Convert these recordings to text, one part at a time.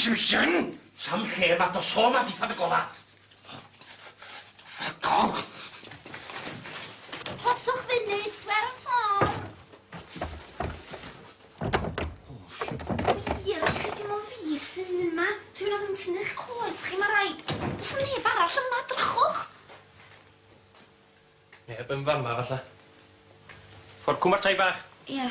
Susan! Sam lle ma dy sôn am dillad y gola. Ffycol! Rhoswch funud, dwi ar y ffôn. Hir, chi dim ond fi sydd yma. Dwi'n mynd yn tynnu'ch coes chi, ma raid. Does neb arall yma, drychwch. Neb yn fama falla. Ffor Cwm a'r tai bach? Ia.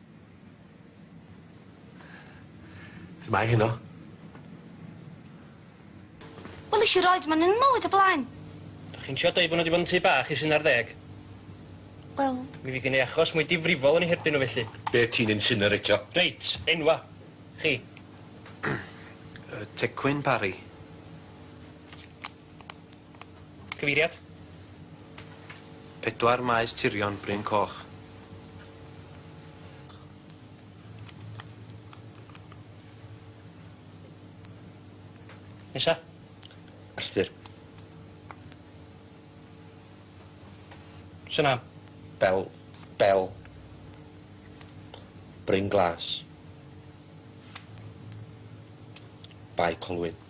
Su' mae heno? Wel nesh i roid ma' nw'n mywyd o blaen. Dach chi'n trio deud bo' nw 'di bod yn tŷ bach ers un ar ddeg? Wel... Mi fy' gen i achos mwy difrifol yn 'u herbyn nw felly. Be' ti'n insinereitio? Reit, enwa'. Chi. Yy Tecwyn Parry. Cyfeiriad. Pedwar Maes Tirion, Bryn Coch. Nesa. Arthur. Sy'n am? Bel. Bel. Bryn Glas. Bae Colwyn.